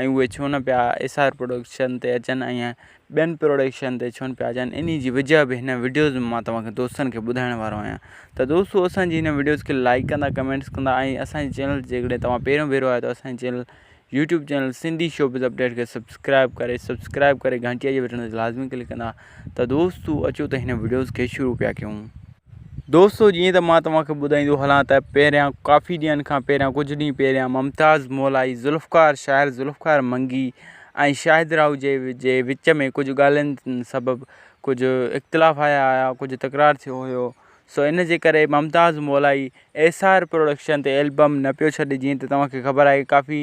۽ اهي ڇو نه پيا ايس آر پروڊڪشن تي اچن ۽ ٻين پروڊڪشن تي ڇو نه پيا اچن انهي جي وجهه به هن وڊيوز ۾ مان توهان کي دوستن کي ٻڌائڻ وارو آهيان ته دوستو اسان جي هن وڊيوز کي لائڪ ڪندا ڪمينٽس ڪندا ۽ اسان جي چينل تي جيڪڏهن توهان پهريون ڀيرو آهيو ته اسان جي channel YouTube channel Sindhi showbiz update کي سبسڪرائب ڪري سبسڪرائب ڪري گهنٽيء جي بٽڻ تي لازمي ڪلڪ ڪندا ته دوستو اچو ته هن وڊيوز کي شروع پيا ڪيون. دوستو جيئن ته مان توهان کي ٻڌائيندو هلان ته پهريان ڪافي ڏينهن کان پهريان ڪجهه ڏينهن پهريان ممتاز مولائي ذوالفقار شاعر ذوالفقار منگي ۽ شاهد راهو جي جي وچ ۾ ڪجهه ڳالهين سبب ڪجهه اختلاف آيا هيا ڪجهه تڪرار ٿيو هيو سو ان جي ڪري Mumtaz Molai S R production تي البم نه پيو ڇڏي جيئن ته توهان کي خبر آهي ڪافي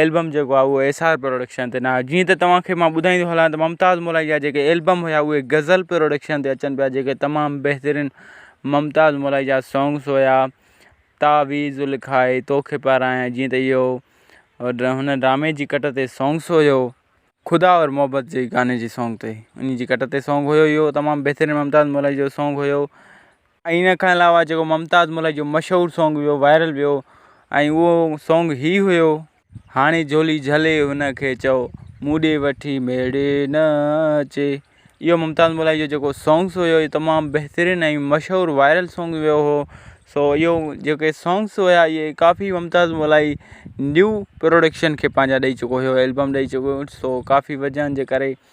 ايلبم جيڪو آهي اهو ايس آر پروڊڪشن تي ناهي جيئن ته توهان کي مان ٻڌائيندو هلان ته ممتاز ملائي جا جيڪي ايلبم هيا اهي غزل پروڊڪشن تي اچن پيا جيڪي تمام بهترين ممتاز ملائي جا سونگس هيا تعويذ لکائي توکي پارايان جيئن ته اهو هن ڊرامي جي ڪٽ تي سونگس هيو خدا اور محبت جي گاني جي سونگ تي انهي جي ڪٽ تي سونگ هيو اهو تمام بهترين ممتاز ملائي جو سونگ هيو ۽ ان کان علاوه جيڪو ممتاز ملڪ جو مشهور سونگ ويو وائرل ويو ۽ اهو سونگ هي هيو هاڻي جهولي جهلي هن کي چئو مون ڏي وٺي ميڙي نه اچي اهو ممتاز ملائي جو جيڪو سونگس هيو اهو تمام بهترين ۽ مشهور وائرل سونگ ويو هو سو اهو جيڪي سونگس هيا اهي ڪافي ممتاز ملائي نيو پروڊڪشن کي پنهنجا ڏئي چڪو هيو البم ڏئي چڪو سو ڪافي وجهن جي ڪري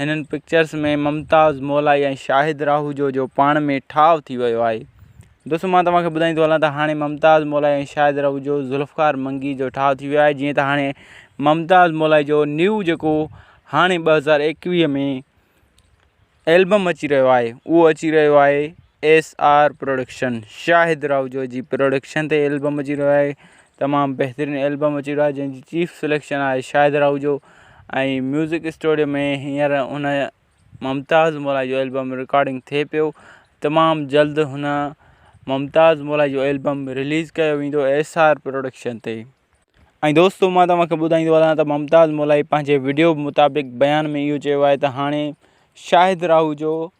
هنن پڪچرز ۾ ممتاز مولائي ۽ شاهد راهوجو جو پاڻ ۾ ٺاء ٿي ويو آهي دوستو مان توهان کي ٻڌائيندو هلان ته هاڻي ممتاز مولائي ۽ شاهد راهوجو ذوالفقار منگي جو ٺاء ٿي ويو آهي جيئن ته هاڻي ممتاز مولائي جو نيو جيڪو هاڻي ٻه هزار ايڪويهه ۾ ايلبم اچي رهيو آهي اهو اچي رهيو آهي S R production Shahid Rahoojo جي پروڊڪشن تي البم اچي رهيو آهي تمام بهترين البم اچي رهيو آهي جنهن جي چيف سليڪشن آهي شاهد راهوجو ۽ ميوزڪ اسٽوڊيو ۾ هينئر هن ممتاز مولائي جو البم رڪارڊنگ ٿئي پيو تمام جلد هن ممتاز مولائي جو البم رليز ڪيو ويندو ايس آر پروڊڪشن تي ۽ دوستو مان توهان کي ٻڌائيندو هلان ته ممتاز مولائي پنهنجي وڊيو مطابق بيان ۾ اهو چيو آهي ته هاڻي شاهد راهوجو